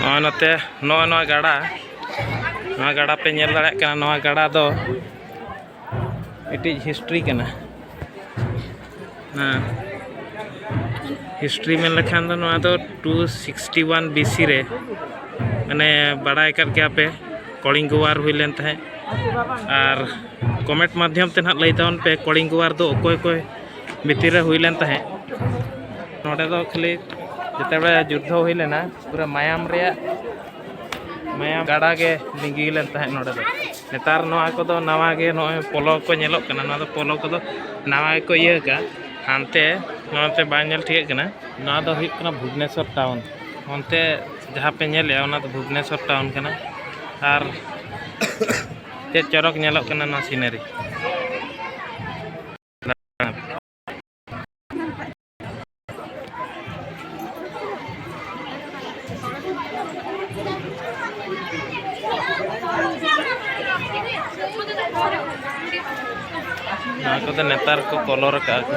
ᱱᱚᱜᱼᱚᱭ ᱱᱚᱛᱮ ᱱᱚᱜᱼᱚᱭ ᱱᱚᱣᱟ ᱜᱟᱰᱟ ᱱᱚᱣᱟ ᱜᱟᱰᱟ ᱯᱮ ᱧᱮᱞ ᱫᱟᱲᱮᱭᱟᱜ ᱠᱟᱱᱟ ᱱᱚᱣᱟ ᱜᱟᱰᱟ ᱫᱚ ᱢᱤᱫᱴᱤᱡ ᱦᱤᱥᱴᱨᱤ ᱠᱟᱱᱟ ᱦᱮᱸ ᱦᱤᱥᱴᱨᱤ ᱢᱮᱱ ᱞᱮᱠᱷᱟᱱ ᱫᱚ ᱱᱚᱣᱟ ᱫᱚ ᱴᱩ ᱥᱤᱠᱥᱴᱤ ᱚᱣᱟᱱ ᱵᱤᱥᱤ ᱨᱮ ᱢᱟᱱᱮ ᱵᱟᱲᱟᱭ ᱠᱟᱫ ᱜᱮᱭᱟ ᱯᱮ ᱠᱚᱲᱤᱝᱜᱚ ᱣᱟᱨ ᱦᱩᱭ ᱞᱮᱱ ᱛᱟᱦᱮᱸᱫ ᱟᱨ ᱠᱚᱢᱮᱱᱴ ᱢᱟᱫᱽᱫᱷᱚᱢ ᱛᱮ ᱱᱟᱦᱟᱜ ᱞᱟᱹᱭ ᱛᱟᱵᱚᱱ ᱯᱮ ᱠᱚᱲᱤᱝᱜᱚ ᱣᱟᱨ ᱫᱚ ᱚᱠᱚᱭ ᱚᱠᱚᱭ ᱵᱷᱤᱛᱤᱨ ᱨᱮ ᱦᱩᱭ ᱞᱮᱱ ᱛᱟᱦᱮᱸᱫ ᱱᱚᱰᱮ ᱫᱚ ᱠᱷᱟᱹᱞᱤ ᱡᱮᱛᱮᱵᱮᱲᱮ ᱡᱩᱫᱽᱫᱷᱚ ᱦᱩᱭ ᱞᱮᱱᱟ ᱯᱩᱨᱟᱹ ᱢᱟᱭᱟᱢ ᱨᱮᱭᱟᱜ ᱢᱟᱭᱟᱢ ᱜᱟᱰᱟ ᱜᱮ ᱞᱤᱸᱜᱤ ᱞᱮᱱ ᱛᱟᱦᱮᱸᱫ ᱱᱚᱰᱮ ᱫᱚ ᱱᱮᱛᱟᱨ ᱱᱚᱣᱟ ᱠᱚᱫᱚ ᱱᱟᱣᱟ ᱜᱮ ᱱᱚᱜᱼᱚᱭ ᱯᱚᱞᱚ ᱠᱚ ᱧᱮᱞᱚᱜ ᱠᱟᱱᱟ ᱱᱚᱣᱟ ᱫᱚ ᱯᱚᱞᱚ ᱠᱚᱫᱚ ᱱᱟᱣᱟ ᱜᱮᱠᱚ ᱤᱭᱟᱹ ᱟᱠᱟᱫᱼᱟ ᱦᱟᱱᱛᱮ ᱱᱚᱛᱮ ᱵᱟᱝ ᱧᱮᱞ ᱴᱷᱤᱠᱟᱹᱜ ᱠᱟᱱᱟ ᱱᱚᱣᱟ ᱫᱚ ᱦᱩᱭᱩᱜ ᱠᱟᱱᱟ ᱵᱷᱩᱵᱽᱱᱮᱥᱚᱨ ᱴᱟᱣᱩᱱ ᱚᱱᱛᱮ ᱡᱟᱦᱟᱸ ᱯᱮ ᱧᱮᱞᱮᱜᱼᱟ ᱚᱱᱟ ᱫᱚ ᱵᱷᱩᱵᱽᱱᱮᱥᱚᱨ ᱴᱟᱣᱩᱱ ᱠᱟᱱᱟ ᱟᱨ ᱪᱮᱫ ᱪᱚᱨᱚᱠ ᱧᱮᱞᱚᱜ ᱠᱟᱱᱟ ᱱᱚᱣᱟ ᱥᱤᱱᱟᱨᱤ ᱱᱚᱣᱟ ᱠᱚᱫᱚ ᱱᱮᱛᱟᱨ ᱠᱚ ᱠᱚᱞᱚᱨ ᱟᱠᱟᱫᱼᱟ ᱠᱚ